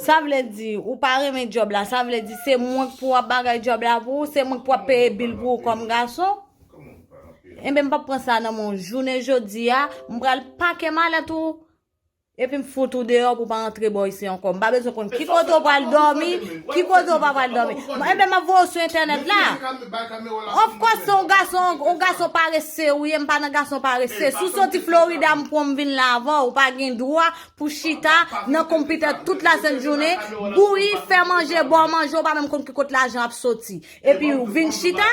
Sa vle di, ou pa renmen job la, sa vle di se mwen k pou ap bagay job la pou ou, se mwen k pou ap peye bil pou ou kòm gason. Enben m pa pran sa nan men w. Jounen jodi a, m pral pake malèt ou. Epi m fout ou deyò pou w pa antre bò isi ankò. M pa bezwen konn ki kote w pral dòmi, ki kote w pa pral dòmi. Enben m ap voye w sou entènèt la. Of kòs se yon gason, yon gason parese ou ye, m pa nan gason parese. Si w soti Florida m pran w m vin la avè w, ou pa gen dwa pou chita nan konpitè tout lasent jounen, bouyi, fè manje, ba w manje, ou pa menm konn ki kote lajan ap soti. Epi ou vin chita?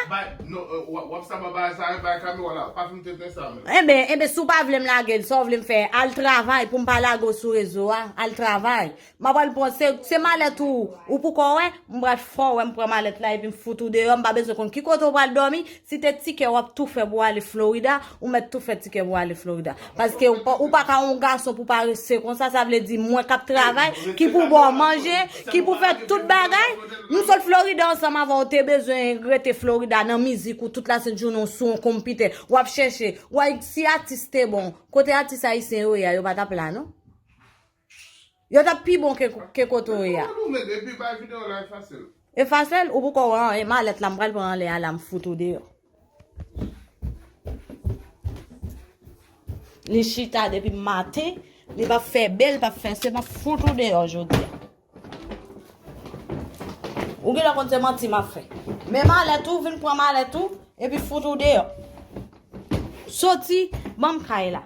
Wap sa ba bay sa bay kamera la pa fin tenten sa menm. Enben enben si w pa vle m lage l sa w vle m fè al travay pou m pa lage w sou rezo a al travay m ap al pran se malèt ou ou pou kò wè m pral fè w wè m pran malèt la epi m fout ou deyò m pa bezwen konn ki kote w pral dòmi si te tikè w ap tou fè pou w ale Florida Ou mèt tou fè tikè pou ale Florida. Paske ou pa ka yon gason pou pa rese konsa. Sa vle di mwen kap travay, ki pou bo manje, ki pou fè tout bagay. Nou sot Florida ansanm avè ou te bezwen rete Florida nan mizik ou tout la sent jounen ou sou yon konpitè. Ou ap chèche. Ou ay si atis te bon. Kote atis ayisyen yo ye a yo pa tap la non. Yo tap pi bon ke kote ou ye a. E fasil, ou poko wè anyen, malèt la m pral pran anlè a la m fout ou deyò. Li chita depi maten, li pap fè bè, li pap fè se, m ap fout ou deyò jodi a. Ou genlè konn se manti m ap fè. Men malèt ou, vin pran malèt ou, epi fout ou deyò. Soti, banm kay la.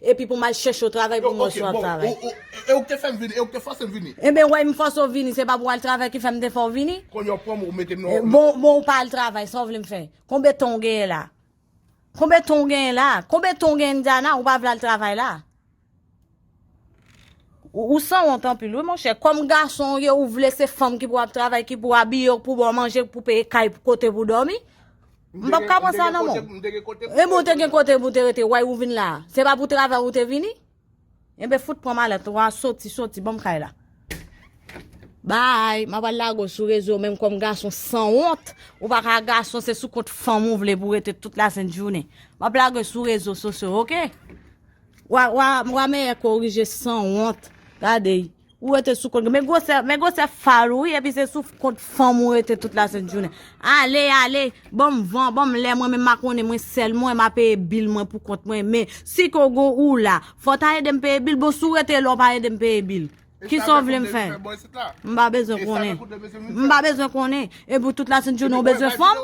Epi pou m al chèche w travay pou mwen sou ap travay. Yo, ok, bon, e ou k te fè m vini, e ou k te fòse m vini. Enben wè m fòse w vini, se pa pou w al travay ki fè m te fè w vini? Kounye a ou pran m ou mete m nan. Bon, bon ou pa al travay, sa w vle m fè? Konbe tan w genyen la? Konbe tan w genyen la? Konbe tan w genyen Indiana, ou pa vle al travay la? Ou sanwont anpil wi monchè, kòm gason w ye ou vle se fanm ki pou ap travay, ki pou abiye w, ki pou ba w manje, ki pou peye kay, kote pou w dòmi? M pap ka pran sa nan men w. E bon, ou te gen kote pou w te rete, why ou vin la a? Se pa pou travay ou te vini? Enben fout pran malèt ou a, soti, soti ban m kay la. Bye, m ap al lage w sou rezo men m kòm gason san wont, ou pa ka gason se sou kont fanm ou vle pou w rete tout lasent jounen. M ap lage w sou rezo sosyo ok. Wa mèyè korije san wont, gade y. Ou rete sou kont. Men gwosè, men gwosè fal ou wi epi se sou kont fanm ou rete tout la sent jounen. Ale, ale, banm van, banm lè mwen menm ma konnen mwen sèl mwen ma peye bil mwen pou kont mwen men si ke w gon ou la fò w ta ede m peye bil bon si w rete la w pa ede m peye bil ki sa w vle m fè? M pa bezwen konnen. M pa bezwen konnen. Epi w tout la sent jounen w bezwen fanm?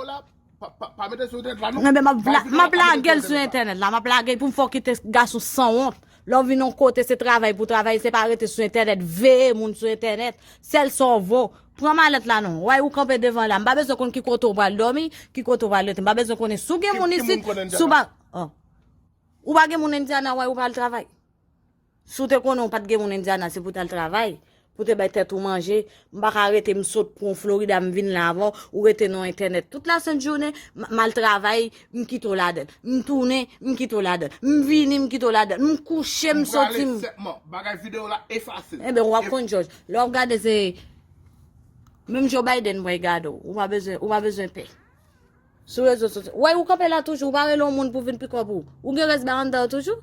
Pa mete sou entènèt la non. Mwen map vla, map lagel sou entènèt la, map lagel pou m fò kite gason san wont. Lè w vin yon kote se travay pou travay, se pa rete sou entènèt, veye moun sou entènèt, sèl sa w vo. Pran malèt la non. Way ou kanpe devan la, m pa bezwen konn ki kote w pral dòmi, ki kote w pral rete. M pa bezwen konnen si w gen moun isit, si w pa Ou pa gen moun Indiana way ou pral travay? Si w te konnen w pa t gen moun Indiana se pou w t al travay, pou w te bay tèt ou manje, m pa ka rete m sot pran w Florida m vin la avan w, ou rete nan entènèt tout la sent jounen, m al travay m kite w ladan l, m tounen m kite w ladan l, m vini m kite w ladan l, m kouche m soti m. Bagay video la efase. Enben wap konn jòj. Lè wap gade se Menm Joe Biden pral gade w. Ou pa bezwen ou pa bezwen pè. Sou rezo sosyo. Ou wè ou kanpe la toujou, ou pa rele yon moun pou vin pikòp ou. Ou gen rès ba anndan w toujou?